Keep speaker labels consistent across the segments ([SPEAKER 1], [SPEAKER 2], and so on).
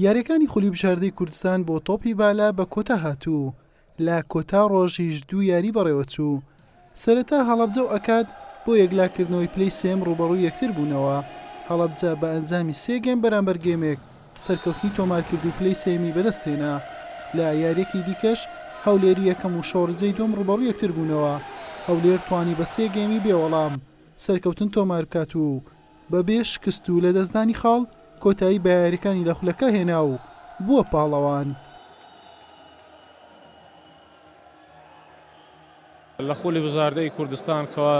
[SPEAKER 1] یارییەکانی خولی بژاردەی کوردستان بۆ تۆپی بالا بە کۆتا هات و لە کۆتا ڕۆژیش دوو یاری بەڕێوەچوو، سەرەتا هەڵەبجە و ئەکاد بۆ یەکلاکردنەوەی پلەی سێیەم ڕووبەڕووی یەکتر بوونەوە، هەڵەبجە بە ئەنجامی سێ گێم بەرامبەر گێمێک سەرکەوتنی تۆمارکرد و پلەی سێیەمی بەدەستهێنا، لە یارییەکی دیکەش هەولێری یەکەم و شۆڕزەی دووەم ڕووبەڕووی یەکتر بوونەوە، هەولێر توانی بە سێ گێمی بێوەڵام سەرکەوتن تۆماربکات و بەبێ شکست و لەدەستدانی خاڵ، کۆتایی بە یارییەکانی لە خولەکە هێنا و بووە پاڵەوان.
[SPEAKER 2] لە خولی بژاردەی کوردستان کەوا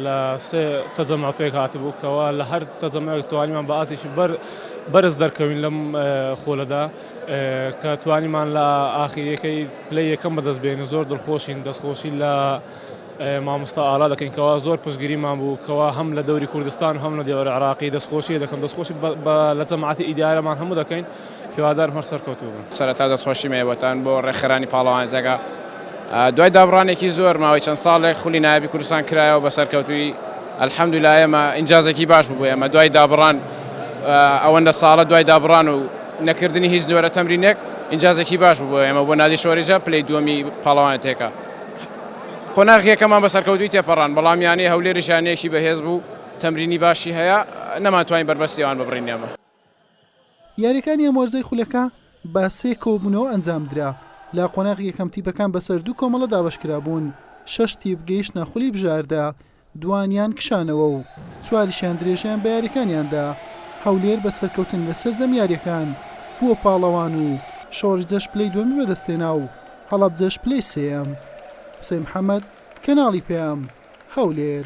[SPEAKER 2] لە سێ تەجەموع پێکهاتبوو، کەوا لە هەر تەجەموعێک توانیمان بە ئاستێکی بەرز دەرکەوین لەم خولەدا، کە توانیمان لە ئاخیرییەکەی پلەی یەکەم بەدەستبێنین، زۆر دڵخۆشین، دەستخۆشی لە مامۆستا ئالا دەکەین کەوا زۆر پشتگریمان بوو کەوا هەم لە دەوری کوردستان و هەم لە دەوری عێراقی دەستخۆشی دەکەم دەستخۆشی بە لە جەماعەتی ئیدارەمان هەموو دەکەین هیوادارم هەر سەرکەوتوو بن. سەرەتا دەستخۆشیم هەیە
[SPEAKER 3] بۆتان بۆ ڕێکخەرانی پاڵەوانێتەکە دوای دابڕانێکی زۆر ماوەی چەند ساڵێک خولی نایابی کوردستان کرایەوە بە سەرکەوتوویی الحمدللە ئێمە ئینجازێکی باش بوو بۆ ئێمە دوای دابڕان ئەوەندە ساڵە دوای دابڕان و نەکردنی هیچ جۆرە تەمرینێک ئینجازێکی باش بوو بۆ ئێمە بۆ نادی شۆریجە پلەی دووەمی پاڵەوانێتێکە قۆناغی یەکەمان بە سەرکەوتووی تێپەڕاند، بەڵام یانەی هەولێریش یانەیەکی بەهێز بوو، تەمرینی باشی هەیە، نەمانتوانی بەربەستی ئەوان ببڕین. یارییەکانی
[SPEAKER 1] ئەم وەرزەی خولەکە بە سێ کۆبوونەوە ئەنجامدرا، لە قۆناغی یەکەم تیپەکان بەسەر دوو کۆمەڵە دابەشکرابوون، شەش تیپ گەیشتنە خولی بژاردە، دووانیان کشانەوە و چواریشیان درێژەیان بە یارییەکانیان دا، هەولێر بە سەرکەوتن لە سەرجەم یارییەکان بووە پاڵەوان و شۆڕیجەش پلەی دووەمی بەدەستهێنا و هەڵەبجەش پلەی سێیەم. حوسەین محەمەد، کەناڵی پەیام، هەولێر.